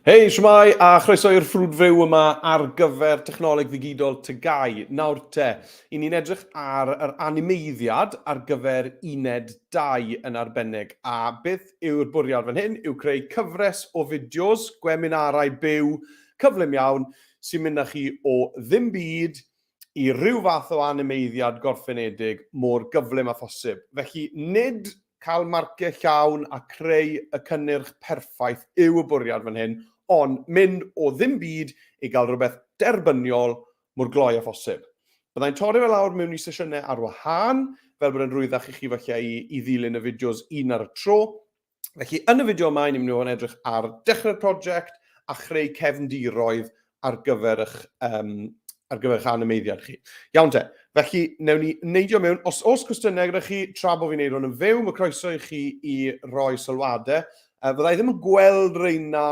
Hei, siwmai, a chroeso i'r ffrwd fyw yma ar gyfer technoleg ddigidol Tygau. Nawr te, i ni'n edrych ar yr animeiddiad ar gyfer uned 2 yn arbennig. A beth yw'r bwriad fan hyn yw creu cyfres o fideos, gweminarau byw, cyflym iawn, sy'n mynd â chi o ddim byd i ryw fath o animeiddiad gorffenedig mor gyflym â phosib. Felly, nid cael marciau llawn a creu y cynnyrch perffaith yw y bwriad fan hyn, ond mynd o ddim byd i gael rhywbeth derbyniol mor gloi â phosib. Byddai'n torri fe lawr mewn i sesiynau ar wahân, fel bod e'n rwyddach i chi falle i ddilyn y fideos un ar y tro, Felly, yn y fideo yma, ni'n mynd i fod yn edrych ar dechrau'r prosiect a chreu cefndiroedd ar gyfer eich, um, ar gyfer eich animeiddiad chi. Iawn te, felly newn ni neidio mewn, os oes cwestiynau gyda chi, tra bod fi'n neud hwn yn fyw, mae croeso i chi i roi sylwadau. Uh, fydda i ddim yn gweld reina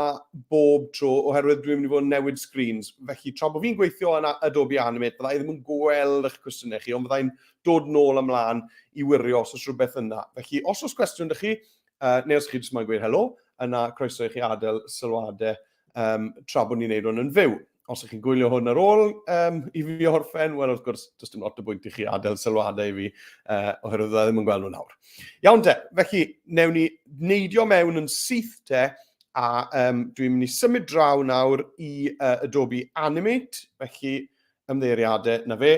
bob tro oherwydd dwi'n mynd i fod yn newid screens. Felly, tra bod fi'n gweithio yn Adobe Animate, fydda i ddim yn gweld eich cwestiynau chi, ond fydda i'n dod nôl a mlaen i wirio os oes rhywbeth yna. Felly, os oes cwestiwn dych chi, uh, neu os chi jyst moyn gweud helo, yna croeso i chi adael sylwadau um, tra bod ni'n neud hwn yn fyw. Os ydych chi'n gwylio hwn ar ôl um, i fi orffen, wel wrth gwrs, does dim lot o bwynt i chi adael sylwadau i fi, uh, oherwydd dda ddim yn gweld nhw nawr. Iawn de, felly, newn ni neidio mewn yn syth de, a um, dwi'n mynd i symud draw nawr i uh, Adobe Animate, felly ymddeiriadau na fe.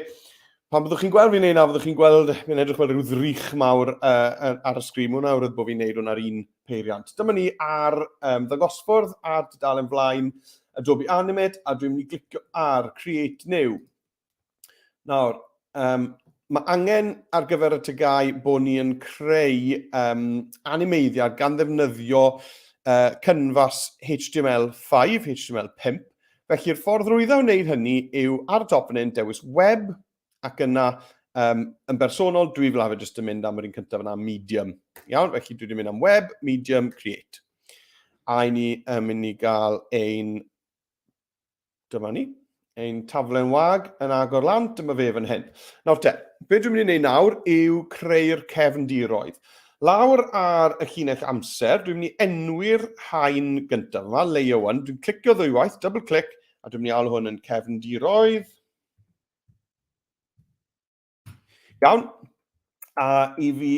Pan byddwch chi'n gweld fi'n neud na, byddwch chi'n gweld, fi'n edrych fel rhyw ddrych mawr uh, ar y sgrin, mwyn awr bod fi'n neud hwn ar un peiriant. Dyma ni ar um, ddangosffordd a'r dudalen flaen Adobe Animate, a dwi'n mynd i glicio ar Create New. Nawr, um, mae angen ar gyfer y tygau bod ni'n creu um, animeiddiad gan ddefnyddio uh, canvas HTML5, HTML5, Felly'r ffordd rwydda o wneud hynny yw ar dopnyn, dewis web, ac yna um, yn bersonol dwi fel arfer jyst yn mynd am yr un cyntaf yna, medium. Iawn, felly dwi wedi mynd am web, medium, create. A i ni um, mynd i gael ein, dyma ni, ein taflen wag yn agor lan, dyma fe fan hyn. Nawr te, be dwi'n mynd i wneud nawr yw creu'r cefndiroedd. Lawr ar y llinell amser, dwi'n mynd i enwi'r rhain gyntaf yma, layer 1, dwi'n clicio ddwywaith, double click, a dwi'n mynd i alw hwn yn cefndiroedd. Iawn, a i fi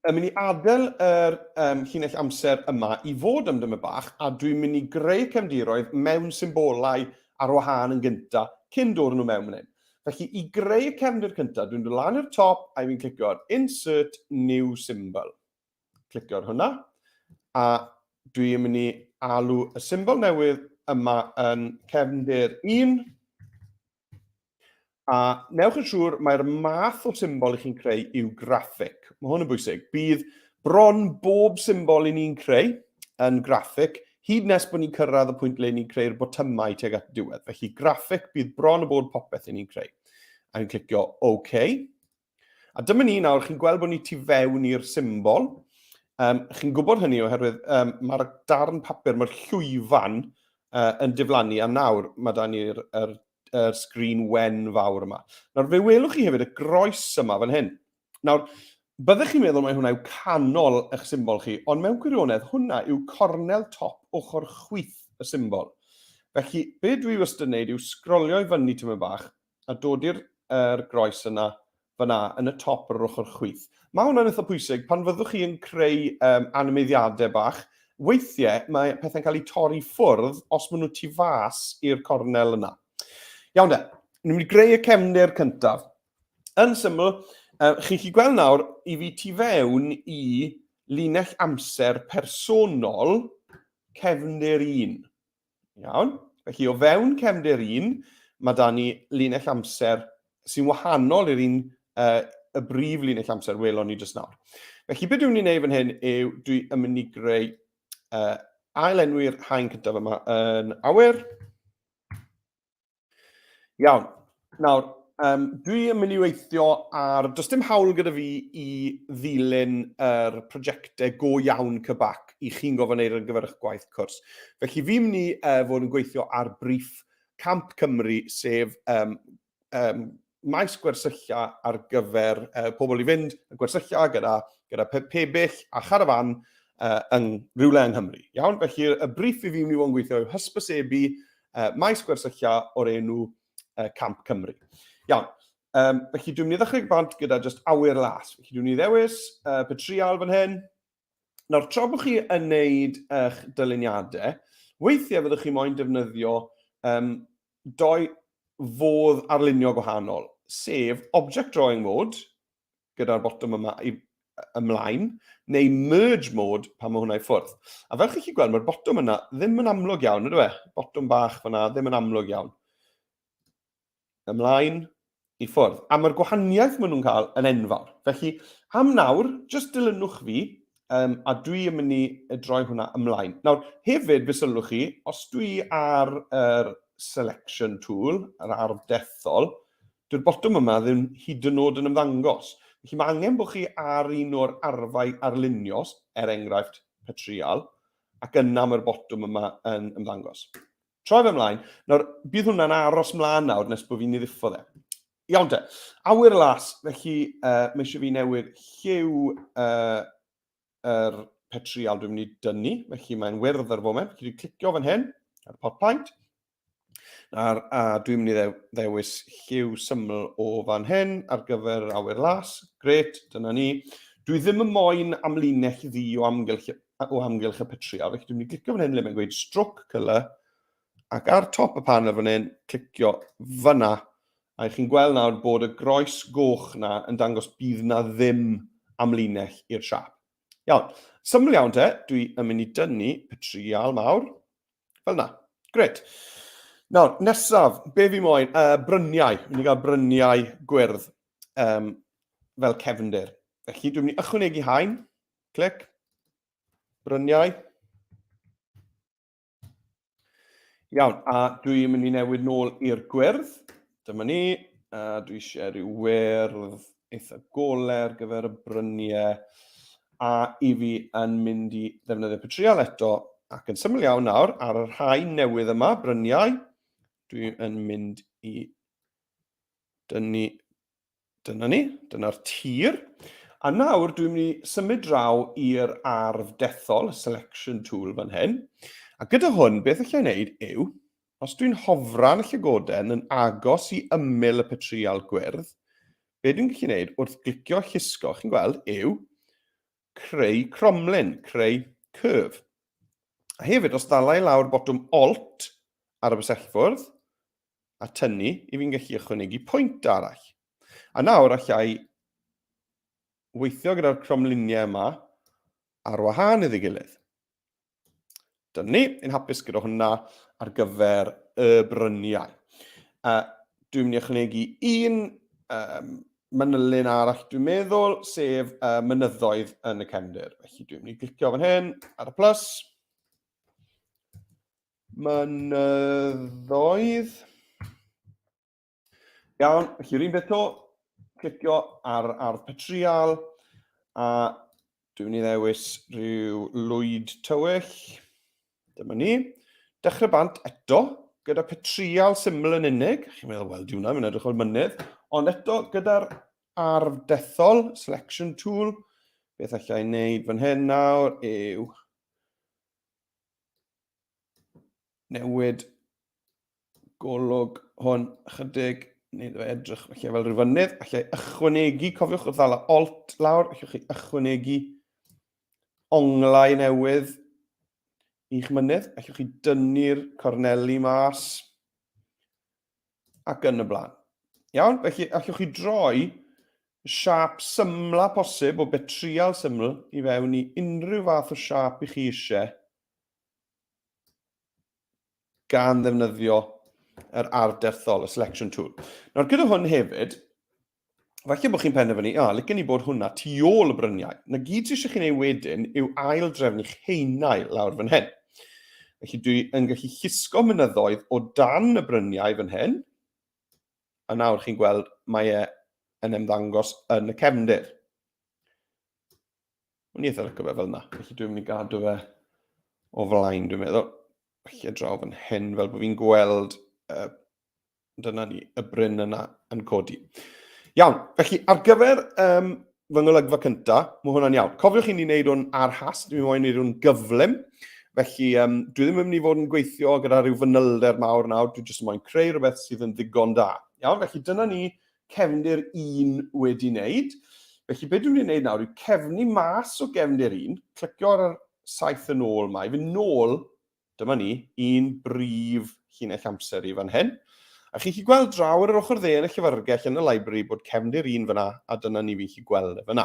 yn mynd i adael yr um, llinell amser yma i fod am dyma bach, a dwi'n mynd i greu cefndiroedd mewn symbolau ar wahân yn gyntaf, cyn dod nhw mewn yn hyn. Felly, i greu'r cefndir cyntaf, dwi'n dod lan i'r top a fi'n clicio ar Insert New Symbol. Clicio ar hwnna, a dwi'n mynd i alw y symbol newydd yma yn cefndir 1. A newch yn siŵr, mae'r math o symbol i chi'n creu yw graffic. Mae hwn yn bwysig. Bydd bron bob symbol i ni'n creu yn graffic Hyd nes bod ni'n cyrraedd y pwynt le ni'n creu'r botymau tuag at y diwedd. Felly graffic bydd bron o bod popeth i ni'n creu. A ni'n clicio OK. A dyma ni nawr, chi'n gweld bod ni tu fewn i'r symbol. Um, chi'n gwybod hynny oherwydd um, mae'r darn papur, mae'r llwyfan uh, yn diflannu, a nawr mae da ni'r er, er sgrin wen fawr yma. Nawr fe welwch chi hefyd y groes yma fan hyn. Nawr, byddech chi'n meddwl mai hwnna yw canol eich symbol chi, ond mewn gwirionedd hwnna yw cornel top ochr chwith y symbol. Felly, be dwi wastad yn gwneud yw sgrolio i fyny tymed bach a dod i'r er groes yna, fyna, yn y top ar yr ochr chwith. Mae hwnna'n eitha pwysig pan fyddwch chi yn creu um, animeiddiadau bach. Weithiau mae pethau'n cael eu torri ffwrdd os maen nhw tu fas i'r cornel yna. Iawn de, ni'n mynd i greu y cefndir cyntaf. Yn syml, uh, chi'n chi gweld nawr i fi tu fewn i linell amser personol cefndir un. Iawn? Felly o fewn cefndir un, mae da ni linell amser sy'n wahanol i'r un uh, y brif linell amser welon ni jyst nawr. Felly, beth dwi'n ei wneud fan hyn yw dwi yn mynd i greu uh, ail enwi'r haen cyntaf yma yn awyr. Iawn. Nawr, um, dwi yn mynd i weithio ar... Does dim hawl gyda fi i ddilyn yr er prosiectau go iawn cybac i chi'n gofyn eir ar gyfer eich gwaith cwrs. Felly fi'n mynd i uh, fod yn gweithio ar briff Camp Cymru, sef um, um, maes gwersylla ar gyfer uh, pobl i fynd y gwersylla gyda, gyda pe pebyll a charafan uh, yng rhywle yng Nghymru. Iawn, felly y briff i fi wni fod yn gweithio yw hysbysebu uh, maes gwersylla o'r enw uh, Camp Cymru. Iawn, um, felly dwi'n mynd i ddechrau bant gyda just awyr las. Felly dwi'n mynd i ddewis uh, petrial fan hyn, Nawr, tra bod chi yn wneud eich dyluniadau, weithiau fyddwch chi moyn defnyddio um, doi fodd arlunio gwahanol, sef Object Drawing Mode, gyda'r botwm yma i ymlaen, neu merge mode pan mae hwnna i ffwrdd. A fel chi'n chi gweld, mae'r botwm yna ddim yn amlwg iawn, ydw e? Botwm bach fyna, ddim yn amlwg iawn. ymlaen i ffwrdd. A mae'r gwahaniaeth maen nhw'n cael yn enfawr. Felly, am nawr, jyst dilynwch fi, um, a dwi yn mynd i droi hwnna ymlaen. Nawr, hefyd, fe sylwch chi, os dwi ar yr selection tool, yr arf dethol, dyw'r botwm yma ddim hyd yn oed yn ymddangos. Felly mae angen bod chi ar un o'r arfau arlunios, er enghraifft petrial, ac yna mae'r botwm yma yn ymddangos. Troi fe mlaen. Nawr, bydd hwnna'n aros mlaen nawr nes bod fi'n ei ddiffo dde. Iawn te. Awyr las, felly uh, mae eisiau fi newid lliw uh, yr petrial dwi'n mynd i dynnu, felly mae'n wyrdd ar y foment. Chi wedi clicio fan hyn, ar y pot paint. A, a dwi'n mynd i ddewis lliw syml o fan hyn ar gyfer awyr las. Gret, dyna ni. Dwi ddim yn moyn amlinell ddi o amgylch o amgylch y petria. Felly dwi'n mynd i glicio fan hyn lle mae'n gweud stroke colour ac ar top y panel fan hyn, clicio fyna. A i chi'n gweld nawr bod y groes goch na yn dangos bydd na ddim amlinell i'r siap. Iawn, syml iawn te, dwi yn mynd i dynnu petrial mawr, fel na. Gret. Nawr, nesaf, be fi moyn? Uh, bryniau. Mynd i gael bryniau gwyrdd um, fel cefndir. Felly dwi'n mynd i ychwanegu hain Clic. Bryniau. Iawn, a dwi'n mynd i newid nôl i'r gwyrdd. Dyma ni, a dwi eisiau rhyw wyrdd eitha gole ar gyfer y bryniau. A i fi yn mynd i ddefnyddio petriol eto, ac yn syml iawn nawr, ar y rhai newydd yma, bryniau, dwi'n mynd i dynnu Dyna ni, dyna'r tir. A nawr dwi'n mynd i symud draw i'r arf dethol, y selection tool fan hyn. A gyda hwn, beth allai wneud yw, os dwi'n hofran y llygoden yn agos i ymyl y petrial gwyrdd, be dwi'n gallu wneud wrth glicio llusgo, chi'n gweld, yw creu cromlin, creu curve. A hefyd, os ddalai lawr botwm Alt ar y bysellfwrdd, a tynnu i fi'n gallu ychwanegu pwynt arall. A nawr allai weithio gyda'r cromluniau yma ar wahân iddi gilydd. Dyna ni, yn hapus gyda hwnna ar gyfer y bryniau. Uh, dwi'n mynd i ychwanegu un um, manylyn arall dwi'n meddwl, sef uh, mynyddoedd yn y cefndir. Felly dwi'n mynd i glicio fan hyn ar y plus. Mynyddoedd. Iawn, felly rhywun beth to, clicio ar ardd petrial, a dwi'n mynd i ddewis rhyw lwyd tywyll. Dyma ni. Dechrau bant eto, gyda petrial syml yn unig. Chi'n meddwl, wel, diwna, mae'n edrych o'r mynydd. Ond eto, gyda'r ardd dethol, selection tool, beth allai wneud fan hyn nawr yw newid golwg hwn ychydig, neu ddo edrych felly fel rhyw fynydd, allai ychwanegu, cofiwch wrth ddala alt lawr, allwch chi ychwanegu onglau newydd i'ch mynydd, allwch chi dynnu'r corneli mas ac yn y blaen. Iawn, felly allwch chi droi siap symla posib o betrial syml i fewn i unrhyw fath o siap i chi eisiau gan ddefnyddio yr ardd derthol, y selection tool. Nawr, gyda hwn hefyd, falle bod chi'n penderfynu, a, licen ni bod hwnna tu ôl y bryniau. Na gyd sydd eisiau chi'n ei wedyn yw ail drefn i'ch heinau lawr fan hyn. Felly dwi yn gallu llusgo mynyddoedd o dan y bryniau fan hyn, a nawr chi'n gweld mae e yn ymddangos yn y cefndir. O'n i eitha licio fe fel yna, felly dwi'n mynd i gadw fe o flaen, dwi'n meddwl. Felly a draw fan hyn, fel bod fi'n gweld, uh, dyna ni, y bryn yna yn codi. Iawn, felly ar gyfer um, fy ngolygfa cynta, mae hwnna'n iawn. Cofiwch i ni wneud hwn ar has, dwi'n moyn wneud hwn gyflym. Felly, um, dwi ddim yn mynd i fod yn gweithio gyda rhyw fanylder mawr nawr, dwi jyst yn moyn creu rhywbeth sydd yn ddigon da. Iawn, felly dyna ni cefndir 1 wedi wneud. Felly beth dwi'n mynd i wneud nawr yw cefnu mas o gefndir 1, clicio ar yr saith yn ôl mae, fy nôl, dyma ni, un brif llinell amser i fan hyn. A chi'n chi gweld draw ar yr ochr dde yn y llyfrgell yn y library bod cefndir 1 fyna a dyna ni fi'n chi gweld e fyna.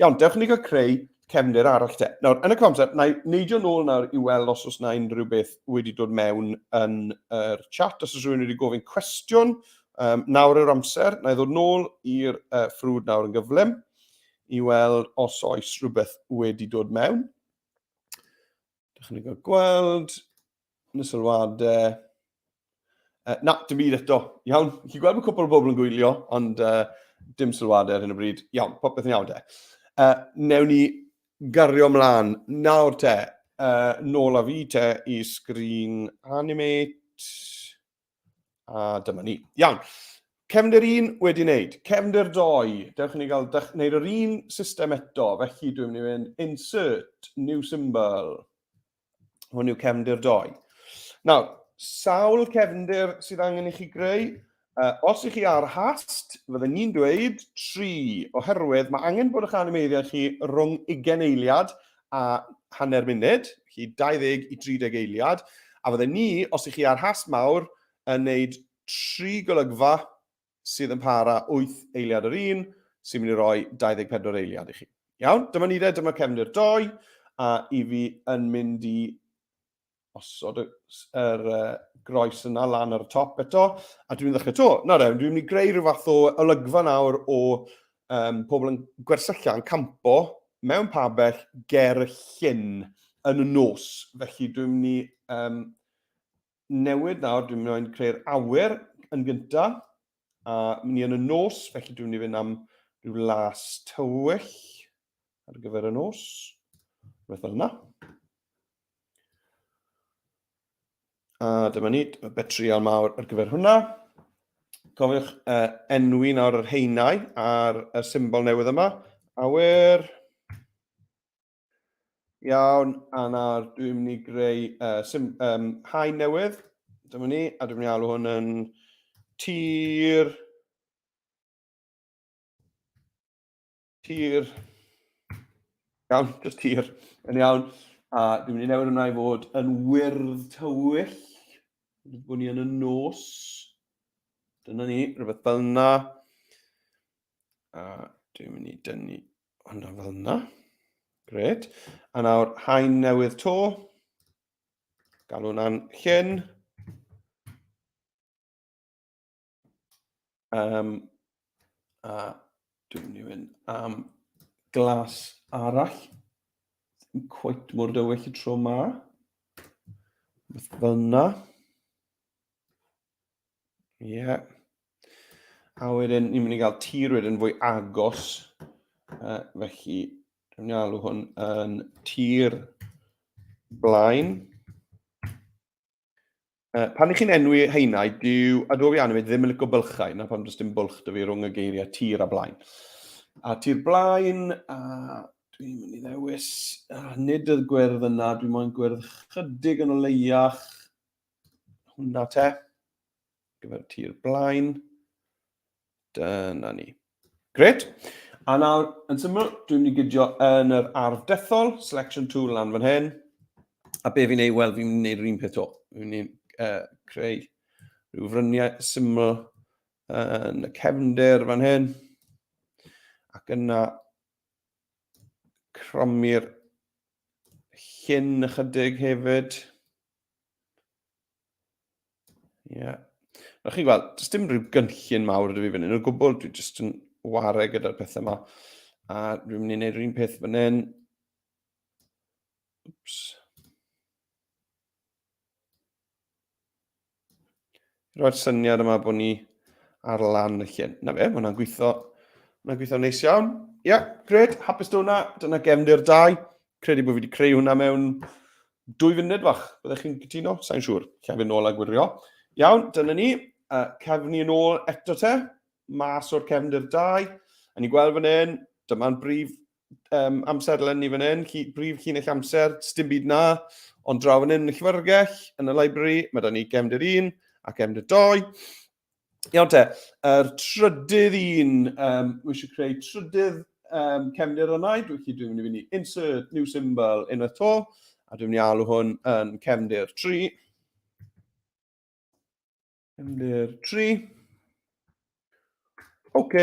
Iawn, dewch i ni gael creu cefnir arall te. Nawr, yn y cwamser, na i neidio nôl nawr i weld os oes na unrhyw beth wedi dod mewn yn yr chat. Os oes rhywun wedi gofyn cwestiwn, um, nawr yw'r amser, na i ddod nôl i'r uh, ffrwd nawr yn gyflym i weld os oes rhywbeth wedi dod mewn. Dych chi'n gweld, Yn y sylwadau... Uh, na, dim byd eto. Iawn, chi gweld bod cwpl o bobl yn gwylio, ond uh, dim sylwadau ar hyn o bryd. Iawn, popeth yn iawn de. Uh, newn ni gario mlaen. Nawr te, uh, nôl a fi te i sgrin animate. A dyma ni. Iawn. Cefndir un wedi wneud. Cefndir doi. Dewch i ni gael wneud yr un system eto. Felly dwi'n mynd i fynd insert new symbol. Hwn yw cefndir doi. Nawr, sawl cefndir sydd angen i chi greu? Uh, os ych chi ar hast, fydden ni'n dweud 3, oherwydd mae angen bod eich animeiddiau chi rhwng ugen eiliad a hanner munud, chi 20 i 30 eiliad, a fydde ni, os ych chi ar has mawr, yn wneud tri golygfa sydd yn para 8 eiliad yr un, sy'n mynd i roi 24 eiliad i chi. Iawn, dyma ni de, dyma cefndir doi, a i fi yn mynd i osod y, yr uh, groes yna lan ar y top eto, a dwi'n ddechrau to. Na rewn, dwi'n mynd i greu rhyw fath o olygfa nawr o um, pobl yn gwersylla yn campo mewn pabell ger y llyn yn y nos. Felly dwi'n mynd i um, newid nawr, dwi'n mynd i creu'r awyr yn gyntaf, a mynd i yn y nos, felly dwi'n mynd i fynd am rhyw las tywyll ar gyfer y nos, rhywbeth fel yna. A dyma ni, y betrial mawr ar gyfer hwnna. Cofiwch uh, enwi nawr yr heinau a'r y symbol newydd yma. Awyr. Iawn, a nawr dwi'n mynd i greu uh, sim, um, hain newydd. Dyma ni, a dwi'n mynd i alw hwn yn tir. Tir. Iawn, just tir. Yn iawn. A dwi'n mynd i newid hwnna i fod yn wyrdd tywyll. Bod ni yn y nos. Dyna ni, rhywbeth fel yna. A dwi'n mynd i dynnu hwnna fel yna. Gred. A nawr, hain newydd to. Galw hwnna'n llyn. Um, a dwi'n mynd i fynd am glas arall. Yn cweit mor dywyll y tro ma. Beth fel yna. Ie. Yeah. A wedyn, ni'n mynd i gael tir wedyn fwy agos. Uh, felly, dwi'n mynd i alw hwn yn tir blaen. Uh, pan ych chi'n enwi heinau, dyw Adobe Animate ddim yn licio bylchau, na pam does dim bwlch dy fi rhwng y geiriau tir a blaen. A tir blaen, a dwi'n mynd i ddewis, a nid y gwyrdd yna, dwi'n moyn gwyrdd chydig yn o leiach, hwnna te. gyfer tir blaen. Dyna ni. Gret. A nawr, yn syml, dwi'n mynd i gydio yn yr ardd dethol, selection tool lan fan hyn. A be fi'n ei wel, fi'n gwneud yr un peth o. Fi'n ei uh, creu rhyw fryniau syml yn y cefnder fan hyn. Ac yna cromi'r llyn ychydig hefyd. Ie. Yeah. Nawr chi'n gweld, does dim rhyw gynllun mawr ydw i fan hyn o gwbl, dwi jyst yn ware gyda'r pethau yma. A dwi'n mynd i wneud rhywun peth fan hyn. Oops. Roedd syniad yma bod ni ar lan y llun. Na fe, mae hwnna'n gweithio, mae hwnna'n gweithio neis iawn. Ie, yeah, gred, hapus da hwnna, dyna gefndir dau. Credu bod fi wedi creu hwnna mewn dwy funud fach. Byddech chi'n cytuno? Sa'n siŵr. Cefn nôl a gwirio. Iawn, dyna ni. Uh, cefn yn ôl eto te. Mas o'r cefndir dau. A ni'n gweld fan hyn, dyma'n brif um, amserlen ni fan hyn, brif chi'n eich amser, dim byd na. Ond draw fan hyn yn y llyfrgell, yn y library, mae da ni cefndir un a cefndir doi. Iawn te, yr trydydd un, um, we should create trydydd um, cefnir yna, dwi'n chi dwi'n mynd i fynd i insert new symbol yn y to, a dwi'n mynd i alw hwn yn cefnir 3. Cefnir 3. OK.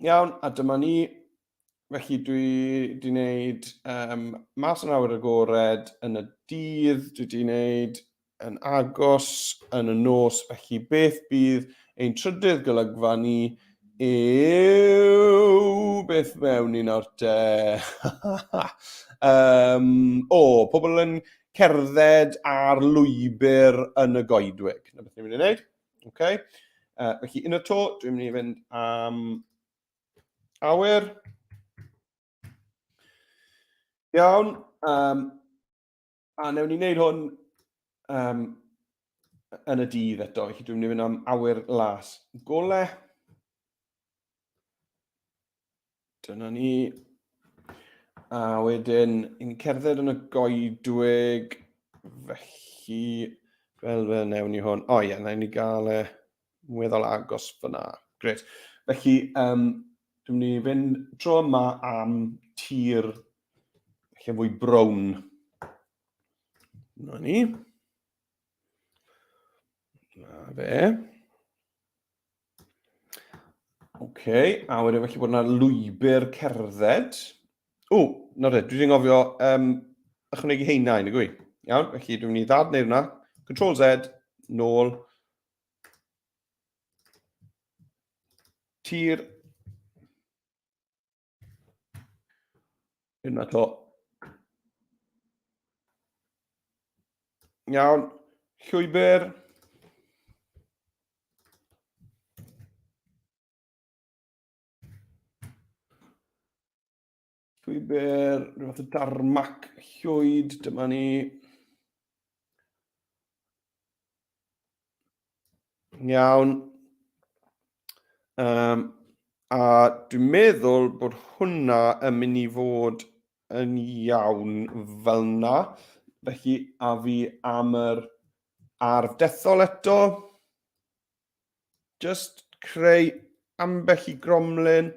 Iawn, a dyma ni. Felly dwi wedi gwneud um, mas yn awyr agored yn y dydd, dwi wedi gwneud yn agos yn y nos, felly beth bydd ein trydydd golygfa ni yw beth mewn un o'r te. um, o, pobl yn cerdded ar lwybr yn y goedwig. Na beth ni'n mynd i wneud. Okay. Uh, felly, yn y to, dwi'n mynd i fynd am Awyr. Iawn. Um, a newn ni wneud hwn um, yn y dydd eto, felly dwi'n mynd i fynd am awyr las. Gole. Dyna ni. A wedyn, yn cerdded yn y goedwig, felly, fel fel newn ni hwn. O ie, na i ni gael e. Weddol agos fyna. Gret. Felly, um, dwi'n mynd i fynd dro yma am tir lle fwy brown. Na ni. Na fe. Oce, okay, a wedyn felly bod yna lwybr cerdded. O, na dde, dwi wedi ngofio um, ychwanegu heina i, nag Iawn, felly dwi'n mynd i ddad neu hwnna. Control Z, nôl, Tir. Yna to. Iawn. Llwybr. Llwybr, rhywbeth o darmac, llwyd, dyma ni. Iawn. Um, a dwi'n meddwl bod hwnna yn mynd i fod yn iawn fel na. Felly, a fi am yr arf dethol eto. just creu ambell i gromlin,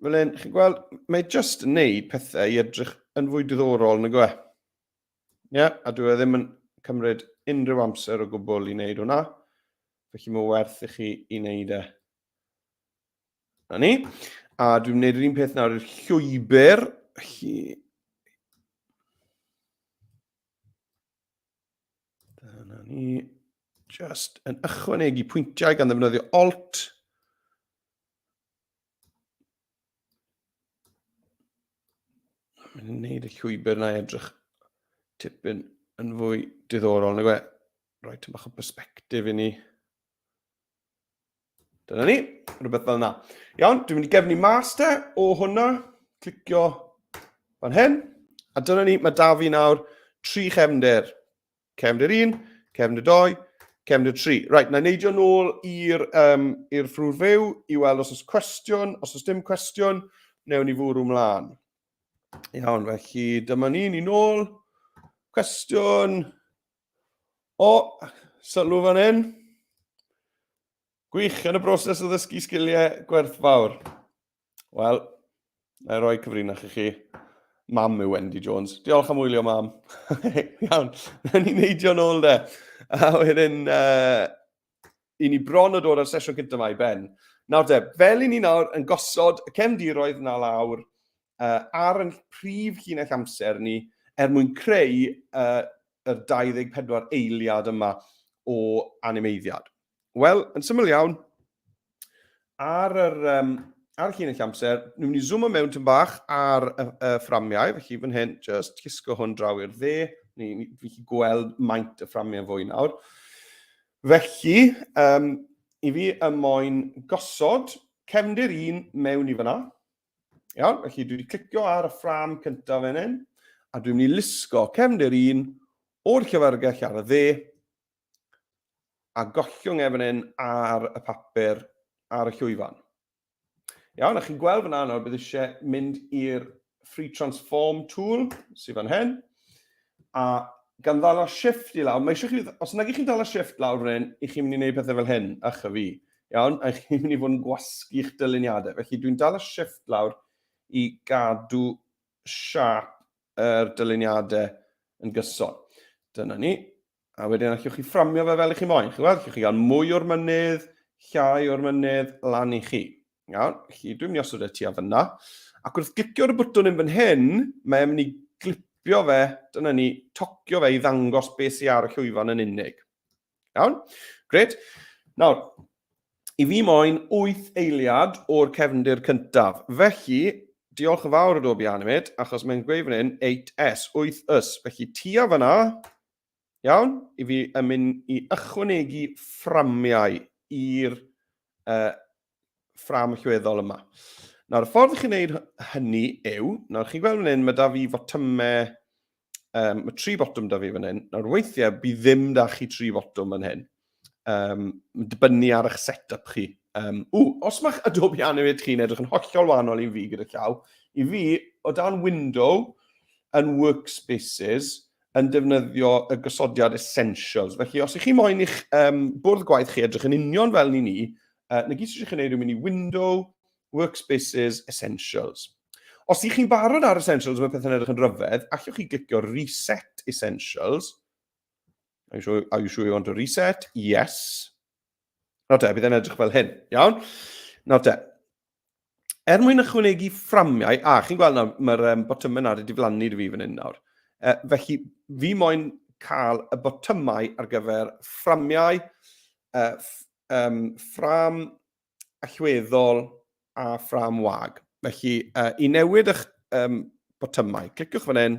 fel hyn, chi'n gweld, mae just yn neud pethau i edrych yn fwy diddorol yn y gwe. Ie, yeah, a dwi e ddim yn cymryd unrhyw amser o gwbl i wneud hwnna. Felly mae werth i chi i wneud e. Na ni. A dwi'n gwneud yr un peth nawr i'r llwybr. Felly, Dyna ni. Just yn ychwanegu pwyntiau gan ddefnyddio Alt. Mae'n gwneud y llwybr na edrych tipyn yn fwy diddorol, neu gwe, roi tyn bach o perspektif i ni. Dyna ni, rhywbeth fel yna. Iawn, dwi'n mynd i gefnu master o hwnna, clicio fan hyn, a dyna ni, mae da fi nawr tri chefnder. Cefnder 1, cefnder 2, cefnder 3. Right, na neidio nôl i'r um, ffrwr fyw i weld os oes cwestiwn, os oes dim cwestiwn, newn ni fwrw mlaen. Iawn, felly dyma ni, ni nôl. Cwestiwn, O, sylw fan hyn. Gwych, yn y broses o ddysgu sgiliau gwerthfawr. Wel, na i roi cyfrinach i chi. Mam yw Wendy Jones. Diolch am wylio, mam. Iawn, na ni'n neidio'n ôl de. A wedyn, uh, i ni bron o dod ar sesiwn cyntaf mae Ben. Nawr de, fel i ni nawr yn gosod y cefndiroedd na lawr, uh, ar yn prif llinell amser ni er mwyn creu uh, y 24 eiliad yma o animeiddiad. Wel, yn syml iawn, ar yr, um, ar llinell amser, ni'n mynd i zoomo mewn tyn bach ar y, y fframiau, felly fan hyn, just cisgo hwn draw i'r dde, ni, ni, fi chi gweld maint y fframiau fwy nawr. Felly, um, i fi y moyn gosod cefndir un mewn i fyna, Iawn, felly dwi wedi clicio ar y ffram cyntaf fan hyn, a dwi'n mynd i lusgo cefndir un o'r llyfrgell ar y dde, a gollwng efn hyn ar y papur ar y llwyfan. Iawn, a chi'n gweld fyna nawr bydd eisiau mynd i'r Free Transform tool sydd fan hyn, a gan ddala shift i lawr, mae eisiau chi, os nag ych chi'n dala shift lawr fan hyn, i chi'n mynd i wneud pethau fel hyn, ych a fi. Iawn, a chi'n mynd i fod yn gwasgu'ch dyluniadau. Felly dwi'n dal y shift lawr i gadw siap yr dyluniadau yn gyson. Dyna ni. A wedyn allwch chi fframio fe fel i chi moyn. Chi'n gweld, allwch chi gael mwy o'r mynydd, llai o'r mynydd, lan i chi. Iawn, chi dwi'n mynd i osod e ti a fyna. Ac wrth glicio ar y bwtwn yn fan hyn, mae'n mynd i glipio fe, dyna ni, tocio fe i ddangos beth sy'n ar y llwyfan yn unig. Iawn? Gret. Nawr, i fi moyn 8 eiliad o'r cefndir cyntaf. Felly, diolch yn fawr o dob i Animate, achos mae'n gweud fan hyn 8S, 8S. Felly, tua fyna, iawn, i fi yn mynd i ychwanegu fframiau i'r uh, ffram llweddol yma. Nawr, y ffordd chi'n gwneud hynny yw, nawr chi'n gweld fan hyn, mae da fi fotymau, um, mae tri botwm da fi fan hyn. Nawr, weithiau, bydd ddim da chi tri botwm fan hyn. Um, dibynnu ar eich set-up chi. Um, ww, os mae'ch Adobe Animate chi'n edrych yn hollol wahanol i'n fi gyda llaw, i fi, o dan window yn workspaces, yn defnyddio y gosodiad essentials. Felly, os ych chi moyn i'ch um, bwrdd gwaith chi edrych yn union fel ni ni, Uh, na gyd sydd chi'n gwneud yw mynd i Window, Workspaces, Essentials. Os ydych chi'n barod ar Essentials, mae pethau'n edrych yn rhyfedd, allwch chi glicio Reset Essentials. Are you sure, are you, sure you want to reset? Yes. Nawr te, bydd e'n edrych fel hyn. Iawn? Nawr te, er mwyn ychwanegu fframiau, a chi'n gweld nawr, mae'r um, botymau nawr wedi diflannu i fi fan hyn nawr. E, felly, fi moyn cael y botymau ar gyfer fframiau, e, um, ffram allweddol a ffram wag. Felly, e, i newid eich um, botymau, cliciwch fan hyn,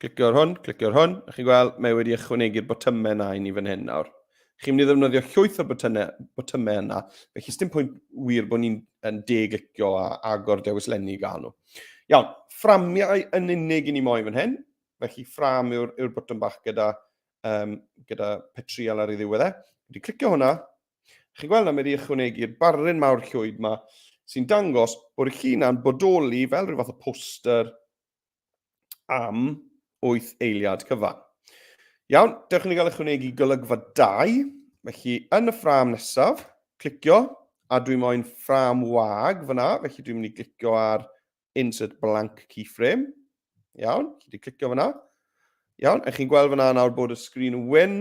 Clicio'r hwn, clicio'r hwn, a chi'n gweld mae wedi ychwanegu'r botymau yna i ni fan hyn nawr. Chi'n mynd i ddefnyddio llwyth o'r botymau yna, felly sdim pwynt wir bod ni'n deglicio a agor dewis lenni i gael nhw. Iawn, fframiau yn unig i ni moyn fan hyn, felly ffram yw'r yw botwm bach gyda, um, gyda petrial ar ei ddiwedd e. Wedi clicio hwnna, chi'n gweld na mae wedi ychwanegu'r barryn mawr llwyd yma, sy'n dangos bod y llun yna'n bodoli fel rhyw fath o poster am 8 eiliad cyfan. Iawn, dewch i ni gael ychwanegu golygfa 2. Felly, yn y ffram nesaf, clicio, a dwi moyn ffram wag fyna, felly dwi'n mynd i glicio ar Insert Blank Keyframe. Iawn, chi wedi clicio fyna. Iawn, a chi'n gweld fyna nawr bod y sgrin yn wyn,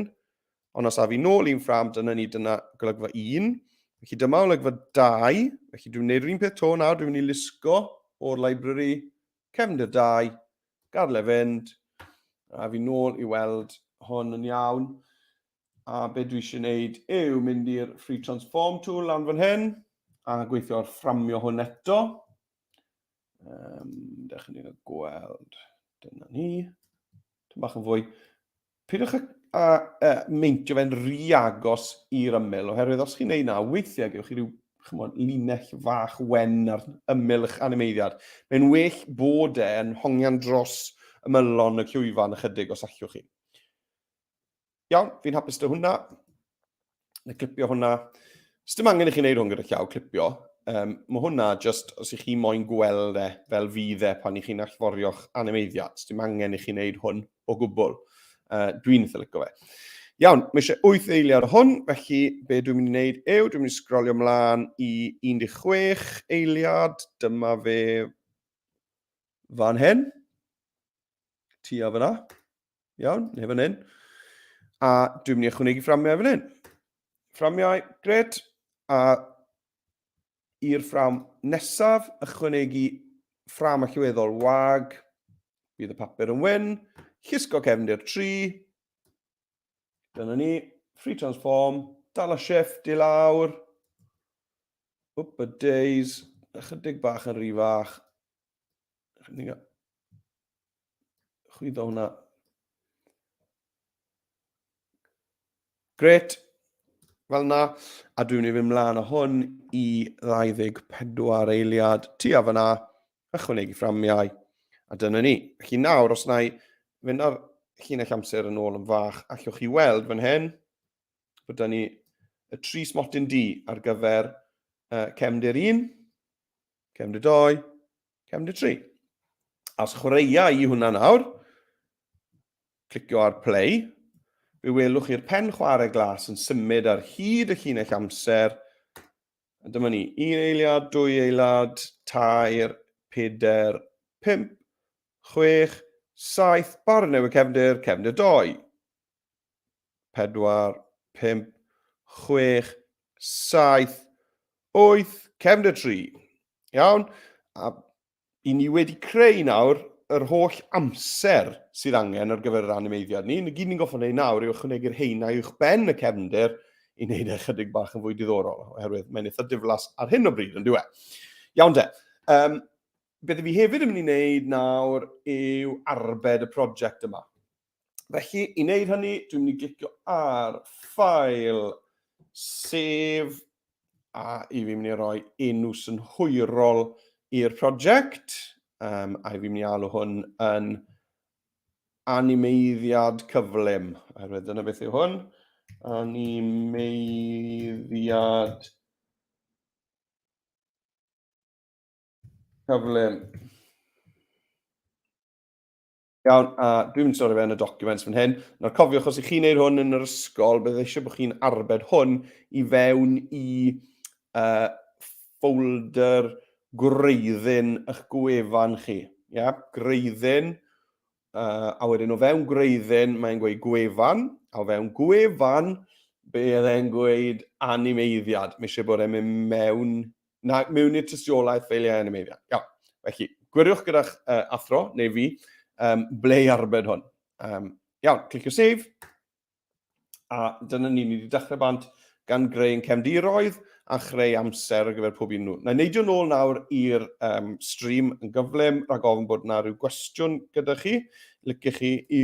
Ond os af i nôl i'n ffram, dyna ni, dyna golygfa 1. Felly dyma olygfa 2. Felly dwi'n gwneud yr un peth to nawr, dwi'n mynd i lusgo o'r library, cefndir 2, gadle fynd, a fi nôl i weld hwn yn iawn. A be dwi eisiau gwneud yw mynd i'r free transform tool lan fan hyn, a gweithio ar fframio hwn eto. Um, da chi'n ni'n gweld, dyna ni. Ti'n bach yn fwy. Pidwch a, a, a meintio fe'n rhy agos i'r ymyl, oherwydd os chi'n neud na, weithiau gewch chi rhyw chymod, linell fach wen ar ymyl eich animeiddiad. Mae'n well bod e yn hongian dros ymylon y cywifan ychydig os allwch chi. Iawn, fi'n hapus dy hwnna. Na clipio hwnna. Sdim angen i chi wneud hwn gyda llaw clipio. Um, mae hwnna just, os ych chi moyn gweld e fel fydd e pan i chi'n allforio'ch animeiddiad, sdim angen i chi wneud hwn o gwbl. Uh, dwi'n eitha lygo fe. Iawn, mae eisiau 8 eiliad o hwn, felly be dwi'n mynd i wneud yw, dwi'n mynd i sgrolio mlaen i 16 eiliad, dyma fe fan hyn, ti a fyna. Iawn, neu fan hyn. A dwi'n mynd i ychwanegu fframiau fan hyn. Fframiau, gred. A i'r ffram nesaf, ychwanegu ffram allweddol wag. Bydd y papur yn wyn. Llusgo cefndir 3. Dyna ni. Free transform. Dal a shift i lawr. Up a days. Ychydig bach yn rhy fach. chwyddo hwnna. Gret, fel na. A dwi'n ei fynd mlaen o hwn i 24 eiliad tu a fyna, ychwanegu fframiau. A dyna ni. Felly nawr, os na i fynd ar llinell amser yn ôl yn fach, allwch chi weld fan hyn, bod da ni y tri smotyn di ar gyfer uh, cefndir 1, cefndir 2, Cefn dy tri. Os chwaraea i hwnna nawr, clicio ar play, fe welwch chi'r pen chwarae glas yn symud ar hyd y llinell amser. A dyma ni, un eiliad, dwy eiliad, tair, peder, pimp, chwech, saith, barn newydd cefndir, cefndir doi. 4, 5, 6, 7, 8, cefn y tri. Iawn? A i ni wedi creu nawr yr holl amser sydd angen ar gyfer yr animeiddiad ni. Ni gyd ni'n goffa wneud nawr yw ychwanegu'r heina i'wch ben y cefndir i wneud e chydig bach yn fwy diddorol, oherwydd mae'n eitha diflas ar hyn o bryd, yn diwe. Iawn de. Um, beth fi hefyd yn mynd i wneud nawr yw arbed y prosiect yma. Felly, i wneud hynny, dwi'n mynd i glicio ar ffael, sef, a i fi'n mynd i roi enw synhwyrol i'r prosiect, um, a i fi'n mynd i alw hwn yn animeiddiad cyflym, oherwydd dyna beth yw hwn, animeiddiad cyflym. Iawn, a dwi'n mynd i stori fe yn y documents fan hyn. Nawr cofiwch, os ych chi'n neud hwn yn yr ysgol, bydd eisiau bod chi'n arbed hwn i fewn i uh, folder gwreiddyn eich gwefan chi. Ia, yeah? gwreiddyn, uh, a wedyn o fewn gwreiddyn, mae'n gweud gwefan, a o fewn gwefan, bydd e'n gweud animeiddiad. Mae eisiau bod e'n mynd mewn Na, mewn i'r tystiolaeth fel ei animeiddiau. Iawn. Felly, gwiriwch gyda'ch uh, athro, neu fi, um, ble i arbed hwn. Um, iawn, clicio save. A dyna ni, ni wedi dechrau bant gan greu yn cefn diroedd a chreu amser ar gyfer pob un nhw. Na i neidio nôl nawr i'r um, stream yn gyflym rhag ofn bod yna rhyw gwestiwn gyda chi. Lycych chi i